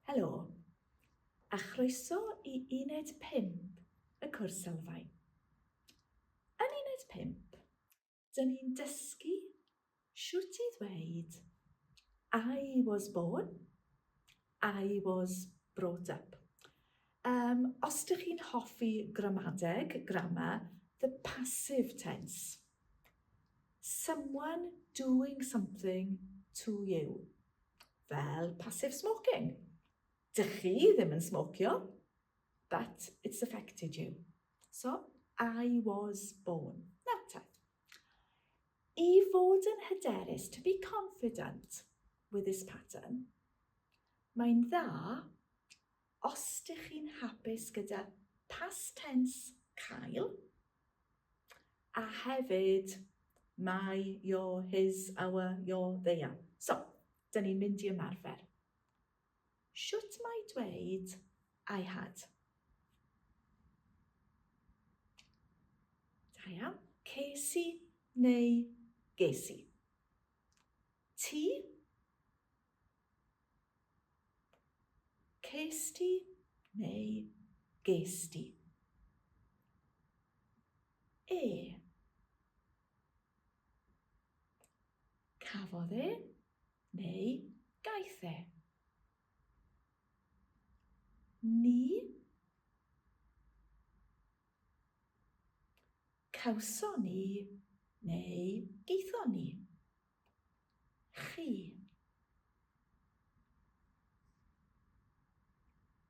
Helo, a chroeso i uned 5 y cwrs sylfaen. Yn uned 5, dyn ni'n dysgu sut i ddweud I was born, I was brought up. Um, os ydych chi'n hoffi gramadeg, grammar, the passive tense. Someone doing something to you. Fel passive smoking. Dych chi ddim yn smocio, but it's affected you. So, I was born. Na, ta. I fod yn hyderus, to be confident with this pattern, mae'n dda Os dych chi'n hapus gyda past tense cael, a hefyd my, your, his, our, your, they are. So, dyn ni'n mynd i ymarfer. Shwt mae dweud I had? Da iawn. Ces i neu ges i. Ti? Cest ti neu gest ti? E. Cafodd e neu gaeth e? Ni. Cawson ni neu gaethon ni? Chi.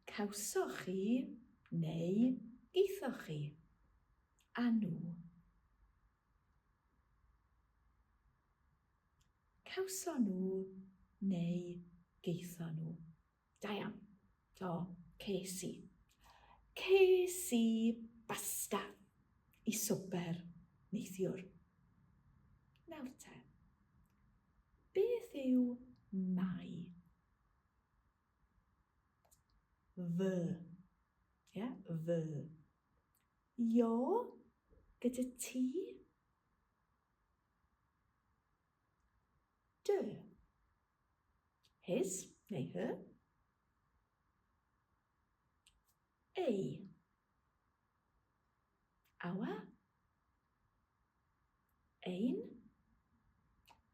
Cawsoch chi neu gaethoch chi. A nhw. Cawson nhw neu gaethon nhw. Da iawn. Do, ces i. Ces i basta i swper neithiwr. Nawr te, beth yw mai? Fy. Ie, fy. Jo, gyda ti? Dy. His neu her. Ei. Our. Ein.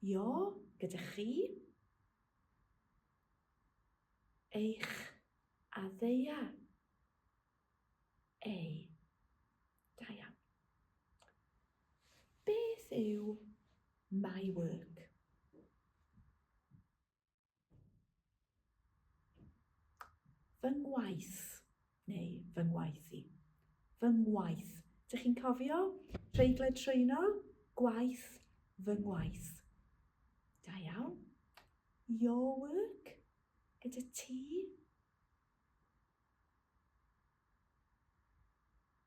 Your gyda chi. Eich. A ddeia. ei. Da iawn. Beth yw my work? Fy ngwaith, neu fy ngwaith i. Fy ngwaith. Dych chi'n cofio? Treigle trwyno, gwaith, fy ngwaith. Da iawn. Your work, gyda ti.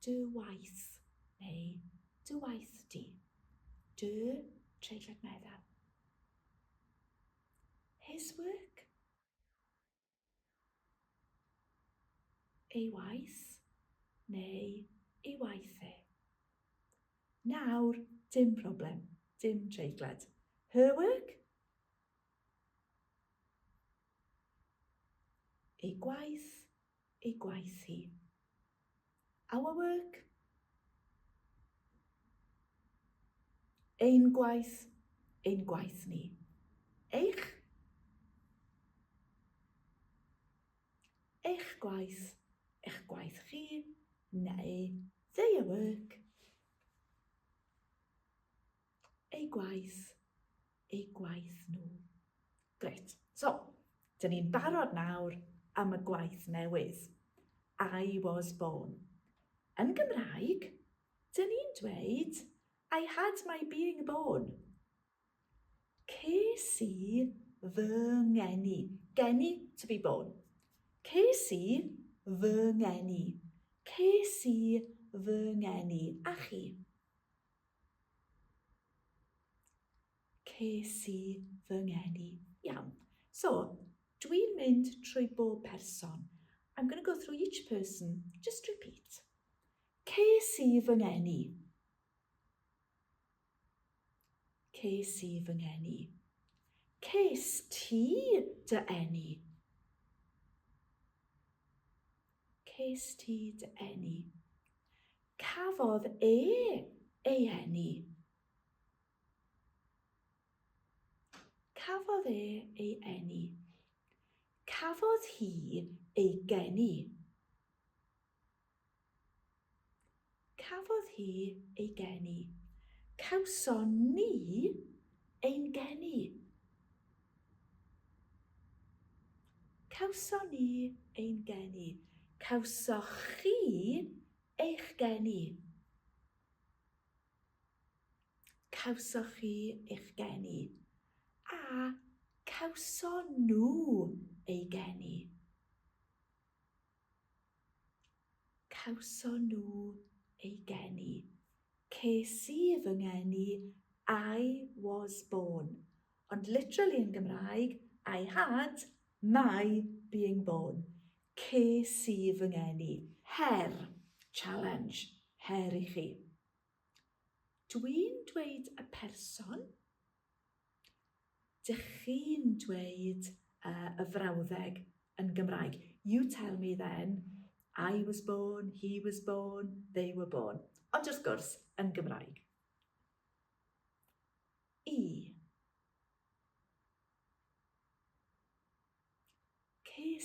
Dy waith neu dy waith di. Dy treiglad meddal. His work. Ei waith neu ei waith e. Nawr, dim problem, dim treiglad. Her work? Ei gwaith, ei gwaith hi. Our work. Ein gwaith, ein gwaith ni. Eich. Eich gwaith, eich gwaith chi, neu their work. eu gwaith, eu gwaith nhw. Gret. So, dyn ni'n barod nawr am y gwaith newydd. I was born. Yn Gymraeg, dyn ni'n dweud I had my being born. Ces i fy ngeni. Geni, to be born. Ces i fy ngeni. Ces i fy ngeni. A chi? Ces i fy ngeni. Iawn, so dwi'n mynd trwy bob person. I'm going to go through each person. Just repeat. Ces i fy ngeni. Ces i fy ngeni. Ces ti dy eni. Ces ti dy eni. Cafodd e ei eni. Cafodd e ei eni. Cafodd hi ei geni. Cafodd hi ei geni. Cawson ni ein geni. Cawson ni ein geni. Cawsoch chi eich geni. Cawsoch chi eich geni. A cawson nhw ei geni. Cawson nhw ei geni. Ces i fy ngeni, I was born. Ond literally yn Gymraeg, I had my being born. Ces i fy ngeni. Her, challenge, her i chi. Dwi'n dweud y person. Dych chi'n dweud uh, y frawddeg yn Gymraeg. You tell me then, I was born, he was born, they were born. Ond wrth gwrs, yn Gymraeg. E.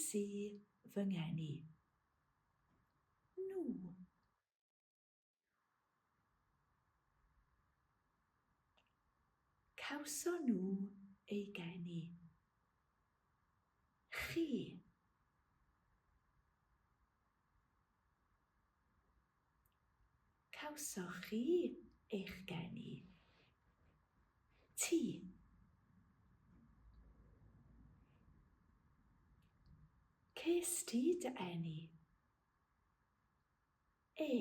Ces i fy ngeni. Nhw. Cawson nhw eu geni. Chi. Cawsoch chi eich geni? Ti. Ces ti dy eni? E.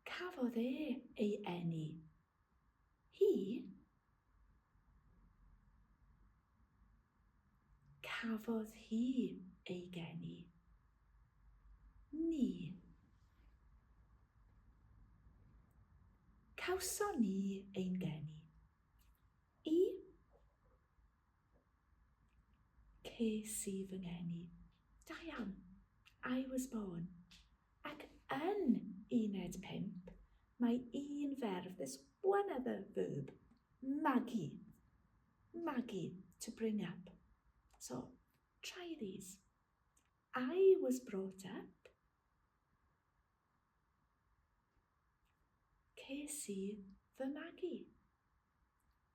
Cafodd e ei eni. Hi? Cafodd hi ei geni. Ni. Cawson ni ein geni. I? Ces i fy ngeni, da iawn, I was born, ac yn uned pump mae un ferf, there's one other verb, magu, magu, to bring up. So, try these. I was brought up. Ces i fy magu.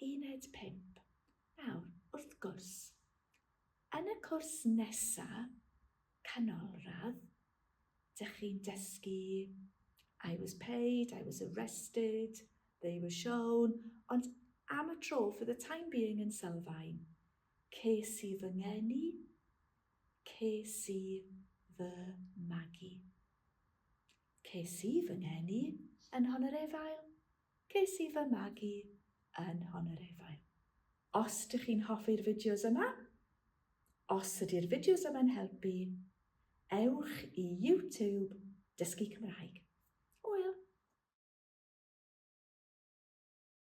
Uned 5. Nawr, wrth gwrs, yn y cwrs nesa, canolradd, dych chi'n dysgu I was paid, I was arrested, they were shown, ond am y tro, for the time being yn sylfaen, ces i fy ngeni, ces i fy magu. Ces i fy ngeni yn Nhon-yr-Efail. Ges i fy magu yn Honorefail. Os dych chi'n hoffi'r fideos yma, os ydy'r fideos yma'n helpu, ewch i YouTube Dysgu Cymraeg. Hwyl!